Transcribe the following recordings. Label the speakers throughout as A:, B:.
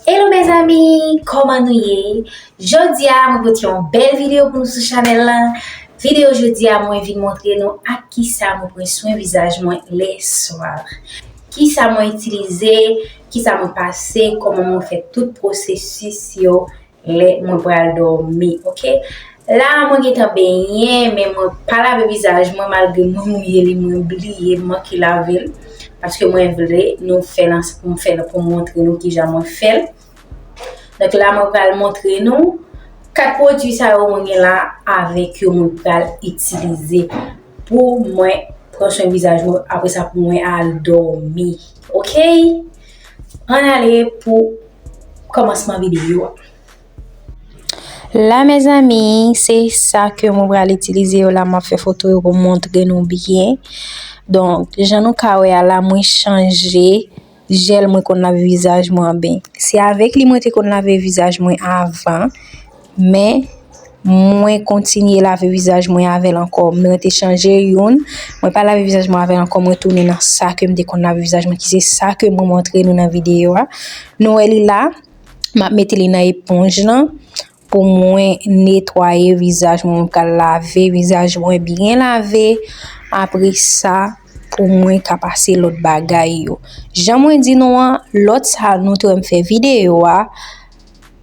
A: Hello mes amis, kòman nou ye? Jodi a mwen pote yon bèl videyo pou nou sou chanèl la. Videyo jodi a mwen vin montre nou ak ki sa mwen pran swen vizaj mwen le swa. Ki sa mwen itilize, ki sa mwen pase, kòman mwen fè tout pwosesis yo Lè mwen pral dòmi ok. La mwen gentan benyen men mwen pa lave vizaj mwen malgre mwen mouye li mwen bliye m manke lave l paske mwen vle nou fè l ansanm pou m fè l pou m montre nou kijan mwen fè l donk la mwen pral montre nou 4 pwodui sa yo mwen gen la avèk yo mwen pral itilize pou mwen pran swen vizaj mwen apre sa pou mwen al dòmi ok. An ale pou kòmansman videyo a.
B: La mezanmi, se sa ke mwen pral itilize yo la. Mwen fè foto yo pou montre nou byen. Donk, jan nou ka wè a la, mwen chanje jèl mwen konn lave vizaj mwen an ben. Se avèk li mwen te konn lave vizaj mwen avan. Men, mwen kontinye lave vizaj mwen avè l ankò. Men mwen te chanje youn, mwen pa lave vizaj mwen avè l ankò, mwen tounen nan sa ke m te konn lave vizaj mwen ki se sa ke mwen montre nou nan videyo a. Nou wè li la, m ap mete li nan eponj lan pou mwen netwaye vizaj mwen. Mwen pral lave vizaj mwen byen lave, apre sa pou mwen ka pase lòt bagay yo. Jan mwen di nou an, lòt sa nou te wè m fè videyo a.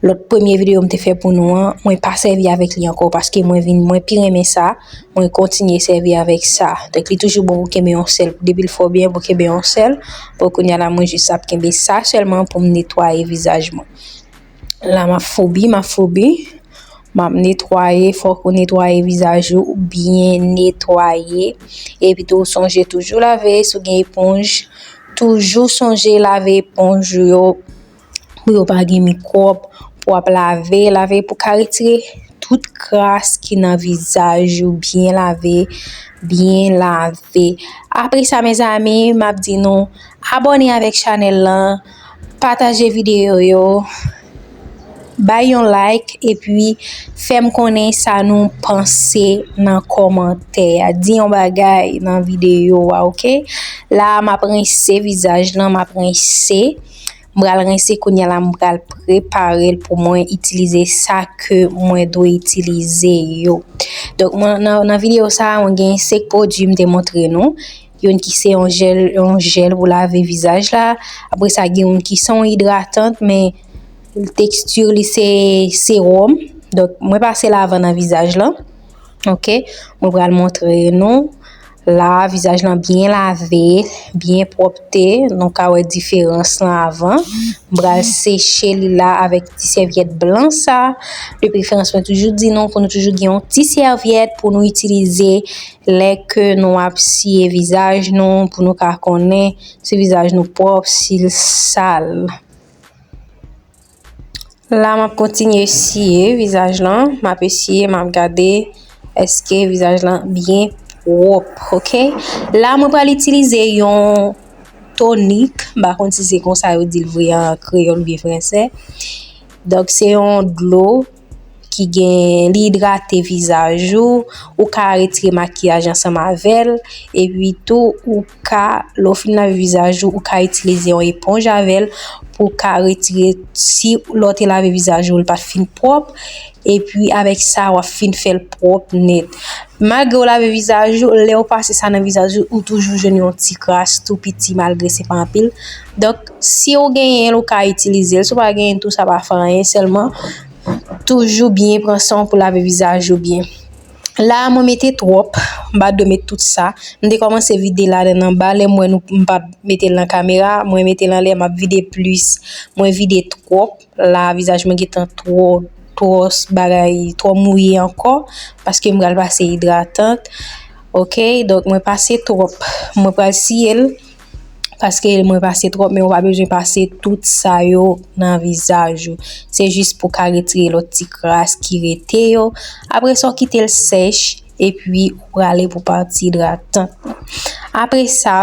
B: Lòt premye video m te fè pou nou an, mwen pa sèvi avèk li ankò paske mwen vin mwen pi renmen sa, mwen kontinye sèvi avèk sa. Donk li toujou bon pou kenbe yon sèl, depi l fò byen pou kenbe yon sèl. Bon kounya la mwen jis ap kenbe sa sèlman pou m netwaye vizaj mwen. La m ap foubi, m ap foubi, m ap netwaye, fòk ou netwaye vizaj ou, byen netwaye. Epi tou sonje toujou lave, si w gen eponj, toujou sonje lave eponj ou yo. pou yo pa gen mikwòb, pou ap lave, lave pou ka retire tout kras ki nan vizaj ou byen lave, byen lave. Apre sa mezanmi, m ap di nou abòne avèk chanèl lan, pataje videyo yo, bay yon like epi fè m konnen sa nou panse nan kòmantè a. Di yon bagay nan videyo a ok. La a m ap rense vizaj lan, m ap rense. m pral rense kounya la m pral preparel pou mwen itilize sa ke mwen dwe itilize yo donk mwen nan video sa mwen gen 5 pwodwi m te montre nou yon ki se yon jel yon jel pou lave vizaj la apre sa gen yon ki son idratant men tekstur li se serum donk mwen pase lavan nan vizaj la ok mwen pral montre nou La a vizaj lan byen lave, byen pwòpte, nou ka wè diferans lan avan. M pral seche li la avèk ti sèvyèt blan sa. De preferans mwen toujou di nou pou nou toujou gen yon ti sèvyèt pou nou itilize lè ke nou ap siye vizaj nou pou nou ka konnen si vizaj nou pwòp, si l sal. La map kontinye siye vizaj lan, map esiye map gade eske vizaj lan byen pwòp ok. La mwen pral itilize yon tonik, m pa konn si se konsa yo di l vre an kreyòl oubyen fransè. Donk se yon dlo. ki gen li idrate vizaj ou, ou ka retire makiyaj ansanm avèl, epi tou ou ka lè ou fin lave vizaj ou, ou ka itilize yon eponj avèl pou w ka retire si lè w te lave vizaj ou li pat fin pwòp, epi avèk sa wap fin fèl pwòp nèt. Malgre ou lave vizaj ou, lè ou pase sa nan vizaj ou, ou toujou jwenn yon ti kras tou piti malgre se pa anpil. Donk si ou genyen l ou ka itilize l, si ou pa genyen tou sa pa fè anyen sèlman toujou byen pran san w pou lave vizaj ou byen. La mwen mete twòp, m pa dwe met tout sa. M te kòmanse vide la de nan ba, lè m wè nou m pa mete l nan kamera, mwen mete l anlè m ap vide plis. Mwen vide twòp. la vizaj mwen gentan twò twò bagay twò mouye ankò paske m pral pase idratant ok donk mwen pase twòp mwen pral siyel paske mwen pase twòp men ou pa bezwen pase tout sa yo nan vizaj ou se jis pou ka retire lòt ti kras ki rete yo apre sa ou kitel sèch epi ou prale pou pati idratant apre sa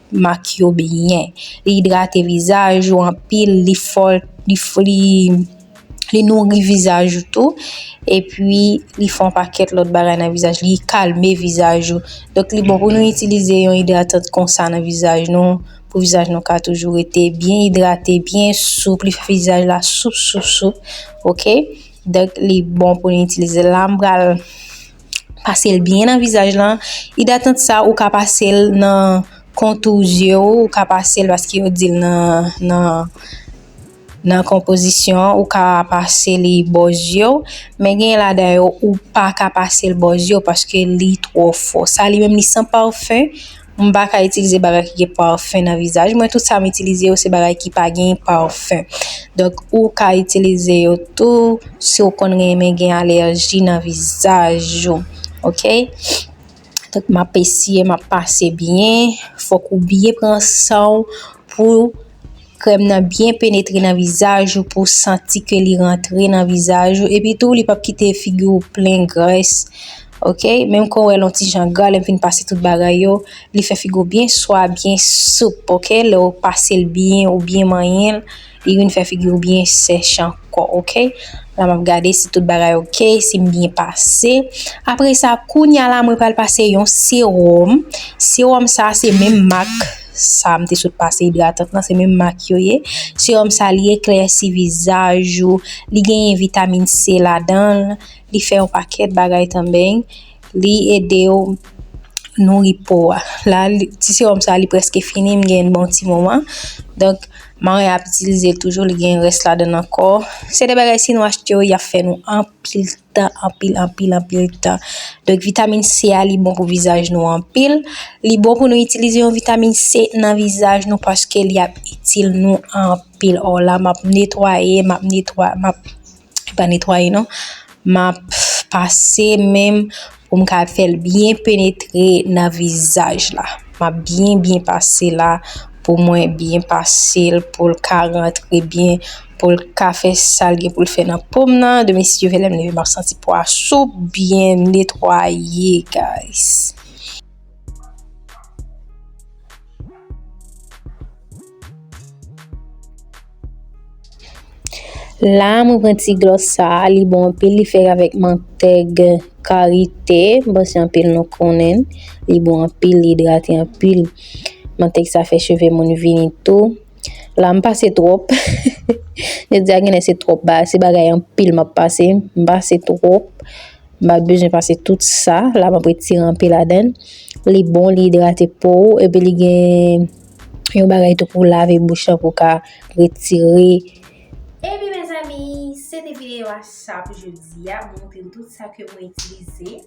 B: mak yo byen, li idrate vizaj ou anpil, li fòl, li nouri vizaj ou tou, epi li fè yon pakèt lòt bagay nan vizaj, li kalme vizaj ou. Donk li bon pou nou itilize yon idratan konsa nan vizaj nou, pou vizaj nou ka toujou rete byen idrate, byen soup, li fè vizaj la soup soup soup, ok, donk li bon pou nou itilize l la, m pral. Pasel byen nan vizaj lan, idatant sa ou ka pasel nan kontou zye ou, ou ka pasel paske yo dil nan nan konpozisyon ou ka pase li bò zye ou, men gen ladan yo ou paka pasel bò zye ou paske li twò fò. Sa li menm li san parfum. M pa ka itilize bagay ki gen parfum nan vizaj mwen tout sa m itilize yo se bagay ki pa gen parfum donk ou ka itilize yo tou si ou konn renmen gen alerji nan vizaj ou ok donk m ap esye m ap pase byen fòk ou byen pran san w pou Krèm nan byen penetre nan vizaj ou pou santi ke li rantre nan vizaj ou epi tou li pap kite figi ou plen grès ok menm ke ou wèl yon ti jan gra lèm fin pase tout bagay yo li fè figi ou byen swa byen soup ok lè ou pasel byen ou byen manyenl li vin fè figi ou byen sèch ankò ok la map gade si tout bagay ok sim byen pase apresa kounya la mwen pral pase yon sewòm sewòm sa se menm mak sa m te sot pase idratant lan se menm mak yo ye sewòm sa li eklèsi vizaj ou li genyen vitamin C ladan l li fè yon pakèt bagay tanbeng li ede w nouri po a la ti sewòm sa li prèske fini m gen l bon ti moman donk mwen ap itilize l toujou li gen rès ladan l ankò se de bagay si nou achte yo y ap fè nou anpil. tan anpil anpil anpil tan donk vitamin C a li bon pou vizaj nou anpil li bon pou nou itilize yon vitamin C nan vizaj nou paske li ap itil nou anpil o la map netwaye map netwaye map pa netwaye non map pase menm Pou m ka fè l byen penetre nan vizaj la. M ap byen byen pase la pou mwen byen pase l pou l ka rantre byen, pou l ka fè sa l gen pou l fè nan po m nan. Demen si Dye vle lè m leve m ap santi po a soup, byen netwaye guys. La mwen pran ti glos sa, li bon anpil, li fèk avèk mantèg karite, bon se anpil nou konnen, li bon anpil, li idrate anpil, mantèg sa fè cheve moun vini tou, la m pase twòp, jodi a genlè se twòp ba, se bagay anpil m ap pase, m pase twòp. M pat bezwen pase tout sa la map retire anpe ladann li bon li idrate po ou epi li gen yon bagay tou pou lave bouch lan pou ka retire Ebyen
A: mezanmi se te videyo a sa pou jodi a mwen montre nou tout sa ke mwen itilize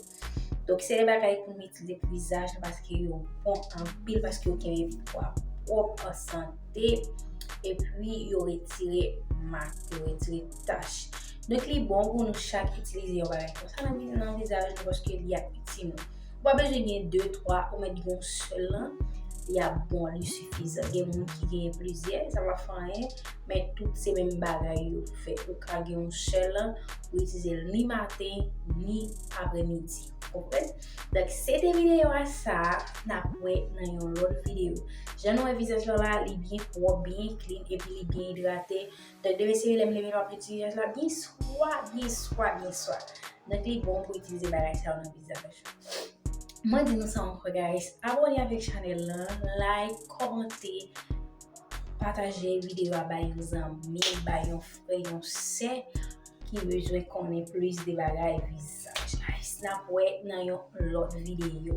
A: donk se de bagay pou nou itilize pou vizaj nou paske yo bon anpil paske yo kenbe pi pwòp ansanm. te e pwi yo retire mak yo retire tach donk li bon pou nou chak itilize yon bagay konsa nan vizaj nou paske li ap itil nou ou pa bezwen gen 2, 3 ou mèt gen yon sèl lan li ap bon li sifizan gen moun ki gen plizyè sa pa fè anyen men tout se menm bagay yo fè ou ka gen yon sèl lan ou itilize l ni maten ni apremidi ou konprann. Donk se te video a sa nap wè nan yon lot video. Jan nou wè vizaj lan la li byen pwop, byen klin epi li byen idrate. Donk de mesye lèm leve map met vizaj la byen swa, byen swa, byen swa. Donk li bon pou itilize bagay sa yo nan vizaj. Mwen di nou sa ankò guys, abone avèk chanèl lan, like, kòmante, pataje video a bay yon zanmi, bay yon frè, yon sè. ki bezwen konnen plis de bagay visaj nap wè nan yon lòt videyo.